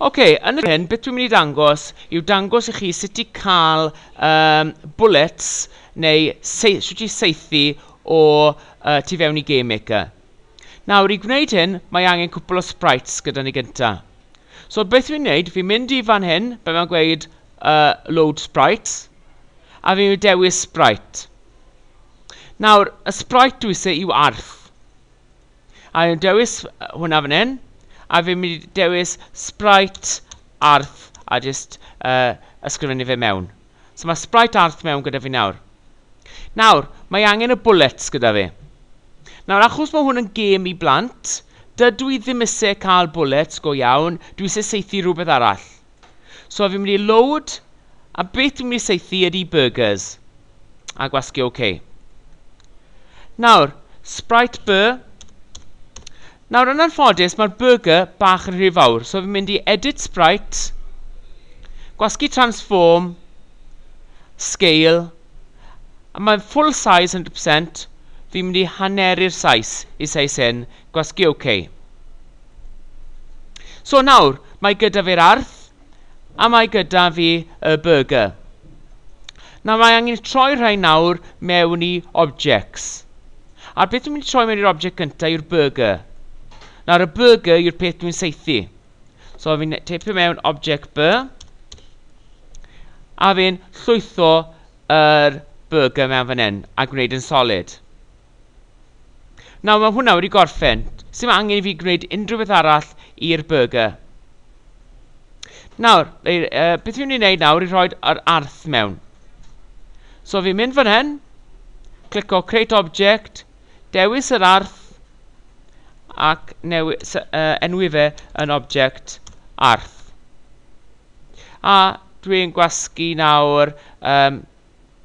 Ok, yn y hyn, beth dwi'n mynd i ddangos yw dangos i chi sut i cael um, bullets neu se sut i seithi o uh, tu fewn i Game Maker. Nawr, i gwneud hyn, mae angen cwpl o sprites gyda ni gynta. So, beth dwi'n gwneud, fi'n mynd i fan hyn, be mae'n gweud uh, load sprites, A fi yw dewis Sprite. Nawr, y Sprite dwi se yw arth. A fi'n dewis hwnna fan hyn. A fi'n mynd i dewis Sprite, arth, a jyst uh, ysgrifennu fe mewn. So mae Sprite arth mewn gyda fi nawr. Nawr, mae angen y bullets gyda fi. Nawr, achos mae hwn yn gêm i blant, dydw i ddim eisiau cael bullets go iawn, dwi eisiau seithi rhywbeth arall. So fi'n mynd i load, a beth dwi'n mynd i seithi ydy burgers. A gwasgu OK. Nawr, Sprite Bur. Nawr, yn anffodus, mae'r burger bach yn rhy fawr. So fi'n mynd i edit Sprite, gwasgu transform, scale, a mae'n full size 100%, fi'n mynd i haneru'r sais i sais hyn, Gwasgu OK. So nawr, mae gyda fi'r arth, a mae gyda fi y burger. Nawr mae angen i troi rhai nawr mewn i objects. A'r peth dwi'n mynd i troi mewn i'r object gyntaf yw'r burger. Nawr y burger yw'r peth dwi'n seithi. So fi'n teipio mewn object B, a fi'n llwytho yr burger mewn fan hyn a gwneud yn solid. Nawr mae hwnna wedi gorffen, sim angen i fi gwneud unrhyw beth arall i'r burger. Nawr, uh, beth fi'n mynd i wneud nawr i rhoi yr arth mewn. So fi'n mynd fan hyn, clico Create Object, dewis yr arth, ac newi, uh, enwi fe yn object arth. A dwi'n gwasgu nawr um,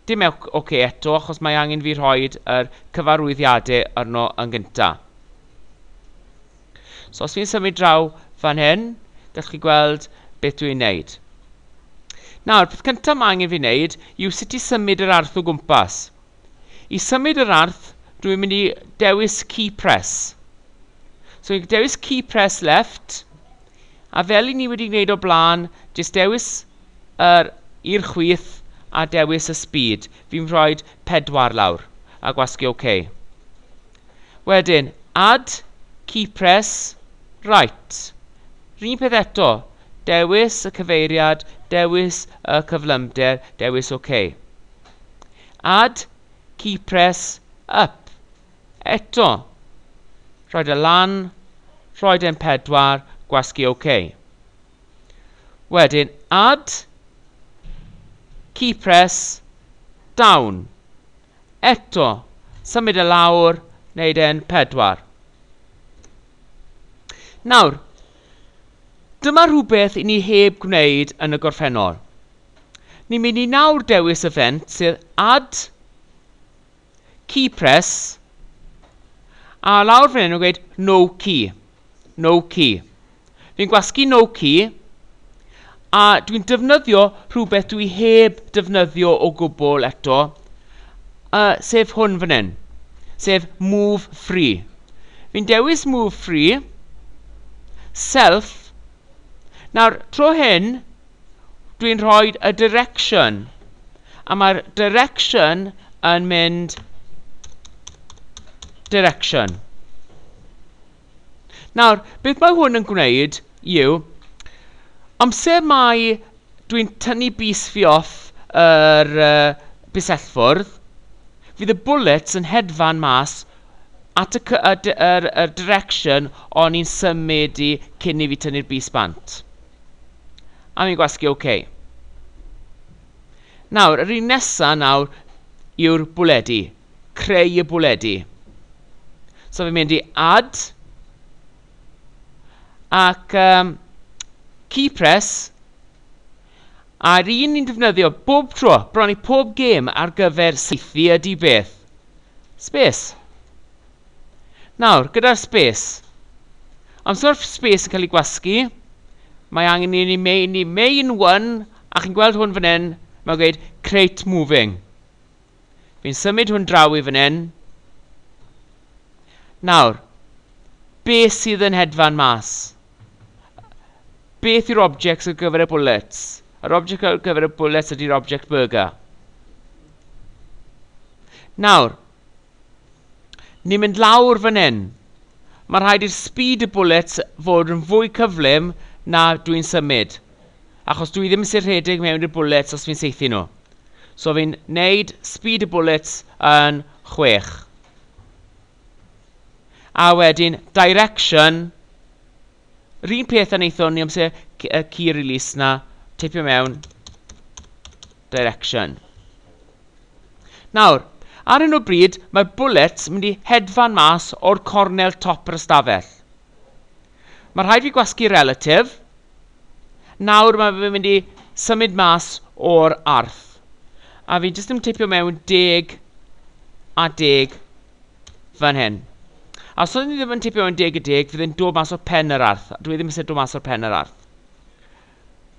Dim ewch ok eto achos mae angen fi rhoid yr cyfarwyddiade arno yn gynta. So os fi'n symud draw fan hyn, gallwch chi gweld beth dwi'n neud. Nawr, peth cyntaf mae angen fi wneud yw sut i symud yr arth o gwmpas. I symud yr arth, dwi'n mynd i dewis key press. So i'n dewis key press left, A fel i ni wedi gwneud o blaen, jyst dewis yr i'r chwith a dewis y speed. Fi'n rhoid pedwar lawr a gwasgu OK. Wedyn, add key press right. Yr un peth eto, dewis y cyfeiriad, dewis y cyflymder, dewis OK. Add key press up. Eto. Rhaid e lan. Rhaid e'n pedwar. Gwasgu OK. Wedyn add. Key press. Down. Eto. Symud e lawr. Neud e'n pedwar. Nawr. Dyma rhywbeth i ni heb gwneud yn y gorffennol. Ni'n mynd i nawr dewis y fent sydd add key press a lawr fan hyn yn gweud no key no key fi'n gwasgu no key a dwi'n defnyddio rhywbeth dwi heb defnyddio o gwbl eto uh, sef hwn fan hyn sef move free fi'n dewis move free self nawr tro hyn dwi'n rhoi y direction a mae'r direction yn mynd direction. Nawr, beth mae hwn yn gwneud yw, amser mae dwi'n tynnu bus fi off yr uh, busellfwrdd, fydd y bullets yn hedfan mas at y, y, y, y direction o'n i'n symud i cyn i fi tynnu'r bus bant. A mi'n gwasgu OK. Nawr, yr un nesa nawr yw'r bwledi, creu y bwledi. So fi'n mynd i add, ac um, key press, a'r un ni'n defnyddio bob tro, bron i pob gêm ar gyfer seithi ydy beth? Space. Nawr, gyda'r sbes. Amser mae'r sbes yn cael ei gwasgu, mae angen i ni mei, ni mei yn one, a chi'n gweld hwn fan hyn, mae'n gweud create moving. Fi'n symud hwn draw i fan hyn. Nawr, beth sydd yn hedfan mas? Beth yw'r objects ar gyfer y bullets? Yr object ar gyfer y bullets ydy'r object burger. Nawr, Ni'n mynd lawr fan hyn. Mae rhaid i'r speed y bullets fod yn fwy cyflym na dwi'n symud. Achos dwi ddim sy'n rhedeg mewn i'r bullets os fi'n saethu nhw. So fi'n neud speed y bullets yn chwech. A wedyn direction, yr un peth a wnaethon ni amser y key release na, teipio mewn direction. Nawr, ar hyn o bryd, mae'r Bullets mynd i hedfan mas o'r cornel top yr ystafell. Mae rhaid fi gwasgu relatif. Nawr mae fe mynd i symud mas o'r arth. A fi jyst yn tipio mewn deg a deg fan hyn. A os o'n i ddim yn tipio mewn deg a deg, fydd e'n dod mas o'r pen yr arth. Dwi e ddim eisiau dod mas o'r pen yr arth.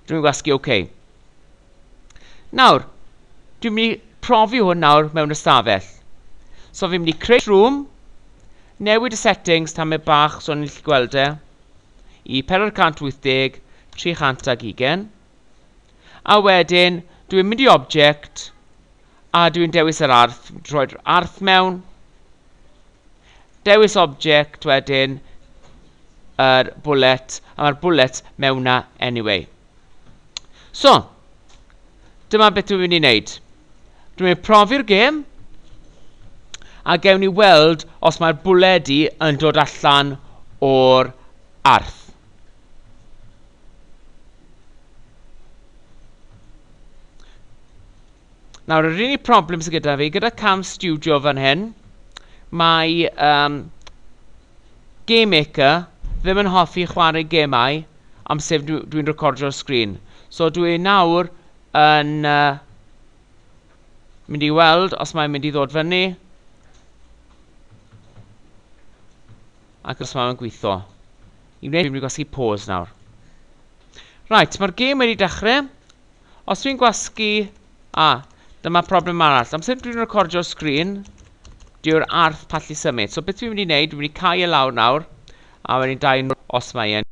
Dwi'n gwasgu OK. Nawr, dwi'n mynd i profi hwn nawr mewn ystafell. So fi'n mynd i create room, newid y settings tamed bach so ni'n gallu gweld e, i 480, 300 ac ugen. A wedyn, dwi'n mynd i object, a dwi'n dewis yr arth, rhoi'r arth mewn, dewis object wedyn, yr bullet, a mae'r bullet mewn na anyway. So, dyma beth dwi'n mynd i wneud. Dwi'n mynd i profi'r gêm, a gewn ni weld os mae'r bwled i yn dod allan o'r arth. Nawr, yr unig problem sydd gyda fi, gyda cam studio fan hyn, mae um, Game Maker ddim yn hoffi chwarae gemau am sef dwi'n dwi recordio'r sgrin. So dwi e nawr yn uh, mynd i weld os mae'n mynd i ddod fyny ac os mae'n gweithio. I wneud, dwi'n mynd i gwasgu pause nawr. Right, mae'r gêm wedi dechrau. Os dwi'n gwasgu... A, dyma problem arall. Amser dwi'n recordio'r sgrin, dyw'r arth pallu symud. So beth dwi'n mynd i wneud, dwi'n mynd i cau e lawr nawr, a wedyn dau nhw os mae e'n...